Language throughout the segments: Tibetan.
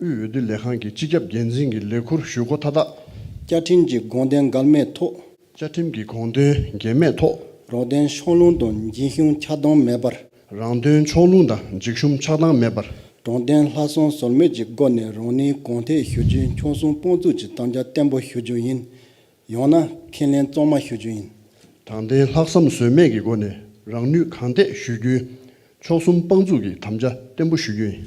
དབུས་འོས་བསྡུ་ལས་ཁང་གི་སྤྱི་ཁྱབ་འགན་འཛིན་གྱི་ལས་འཁུར་ཞུ་སྒོ་མཐའ་དག། བཅའ་ཁྲིམས་ཀྱི་དགོངས་དོན་འགལ་མེད་ཐོག། བཅའ་ཁྲིམས་ཀྱི་དགོངས་དོན་འགལ་མེད་ཐོག། རང་དོན་ཕྱོགས་ལྷུང་དང་འཇིགས་ཞུམ་ཆགས་སྡང་མེད་པར། རང་དོན་ཕྱོགས་ལྷུང་དང་འཇིགས་ཞུམ་ཆགས་སྡང་མེད་པར། དྲང་བདེན་ལྷག་བསམ་ཟོལ་མེད་ཀྱི་སྒོ་ནས་རང་ནུས་གོང་འཕེལ་ཞུ་རྒྱུའི་ཕྱོགས་མཚུངས་དཔང་བཙུགས་ཀྱི་དམ་བཅའ་བརྟན་པོ་ཞུ་རྒྱུ་ཡིན། ཡང་ན་ཁས་ལེན་གཙང་མ་ཞུ་རྒྱུ་ཡིན། དྲང་བདེན་ལྷག་བསམ་ཟོལ་མེད་ཀྱི་སྒོ་ནས་རང་ནུས་གང་ཐད་ཞུ་རྒྱུའི་ཕྱོགས་མཚུངས་དཔང་བཙུགས་ཀྱི་དམ་བཅའ་བརྟན་པོ་ཞུ་རྒྱུ་ཡིན།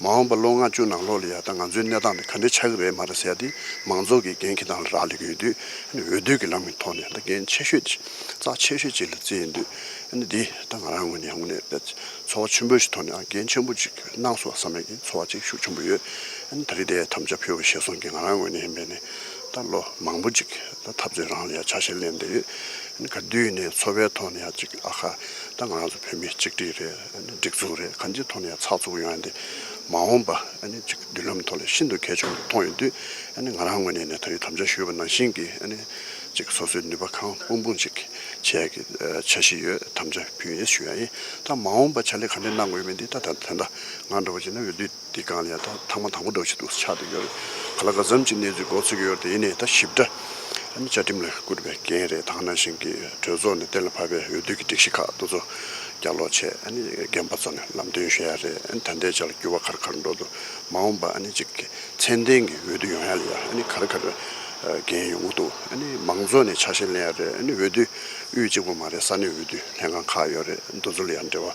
མ་འོངས་པར་ལོ་ལྔ་བཅུ་ནང་ལོགས་ལ་ཡང་ད་ང་ཚོའི་གནས་སྟངས་འདི་ག་འདྲའི་ཆགས་ཀྱི་རེད་མ་རེད་ཟེར་ཏེ་མང་ཚོགས་ཀྱིས་འགན་ཁྱེད་རང་ལ་རག་ལས་ཀྱི་ཡོད་དུས་འོས་བསྡུ་གྱི་ལམ་གྱི་ཐོག་ནས་ད་འགན་ཆེ་ཤོས་ཀྱི་རྩ་ཆེ་ཤོས་ཅིག་ལ་བརྩིས་ཡོད་དུས་འདི་ད་ང་རང་ངོས་ནས་ཡང་ངོ་ནས་ཚོར་བ་ཆེན་པོ་ཞིག་ཐོག་ནས་འགན་ཆེན་པོ་ཅིག་གནང་སོང་བསམ་མེད་ཀྱི་ཚོར་བ་ཅིག་ཤུགས་ཆེན་པོ་ཡོད་ད་རེས་དེ་ཐམས་ཅད་ཕུལ་བ་ཤེས་སོང་གི་ང་རང་ངོས་ནས་ཡིན་པས་ནས་ད་ལོ་མང་པོ་ཅིག་ད་འཐབ་རྩོད་རང་ལ་ཡང་ཆ་ཤས་ལེན་བསྡད་ཡོད་ག་དུས་ནས་ཚོར་བའི་ཐོག་ནས་ཡང་ཅིག་ཨ་ཁ་ད་ང་རང་ཚོ་བོད་མི་གཅིག་སྒྲིལ་རེད། སྒྲིག་འཛུགས་རེད་གང་ཅིའི་ཐོག་ནས་ཚགས་ཚུགས་ཡོང་ཡ་དེ་མ་འོངས་པ་མདུན་ལམ་ཐོག་ལ་ཤིན་ཏུ་གལ་ཆུང་དུ་མཐོང་ཡོད་དུས་ང་རང་ངོས་ནས་ད་ཡོད་དམ་བཅའ་ཞུས་པ་ནང་བཞིན་གྱི་སོ་སོའི་ནུས་པ་གང་སྤུངས་སྤུངས་ཅིག་བྱས་ཀྱི་འཆར་གཞི་ཡོད་དམ་བཅའ་ཕུལ་ཡས་ཞུ་ཡ་ཡིན་ད་མ་འོངས་པ་བྱ་ལས་ག་འདྲས་གནང་དགོས་མིན་དེ་ད་ད་ཐོན་ད་ང་འགྲོ་བ་ཇི་ན་ཡོད་དུས། དེ་གང་ལས་ད་ཐང་མ་དང་པོ་འགྲོ་བྱེད་དུ་ཆགས་འདུག་ཡོད་རེད་ག་ལ་ག་ཟམ་གྱི་གནས་ཚུལ་མགོ་ཚུགས་ཡོད་དེ་ནས་ད་ཞིབ་ཕྲ་ནི་བཅའ་ཁྲིམས་ལ་བསྐུར་བའི་འགན་རེད་ད་ནང་བཞིན་གྱི་གྲོས་ཚོགས་ནས་གཏན་ལ་ཕབ་པའི་འོས་བསྡུ་གྱི་སྒྲིག་གཞི་ཁག་དུ་ཚོ་རྒྱག་ལོག་བྱས་རྒན་པ་ཚོ་ནས་ལམ་སྟོན་ཞུ་ཡ་རེད་ད་འདས་ཆ་ལ་འགྱུར་བ་གར་གར་འགྲོ་འདུག་མ་འོངས་པ་གཅིག་ཚན་ལྡན་གྱི་འོས་བསྡུ་ཡོང་ཡ་ལ་ཡང་གར་གར་འགན་ཡོང་གི་འདུག་མང་ཚོགས་ནས་ཆ་ཤས་ལེན་ཡ་རེད་འོས་བསྡུ་དབུས་གཅིག་པོ་མ་རེད་ས་གནས་འོས་བསྡུ་ལྷན་ཁང་ཁག་ཡོད་རེད་འདུག་ཚོ་ལ་ཡང་འབྲེལ་བ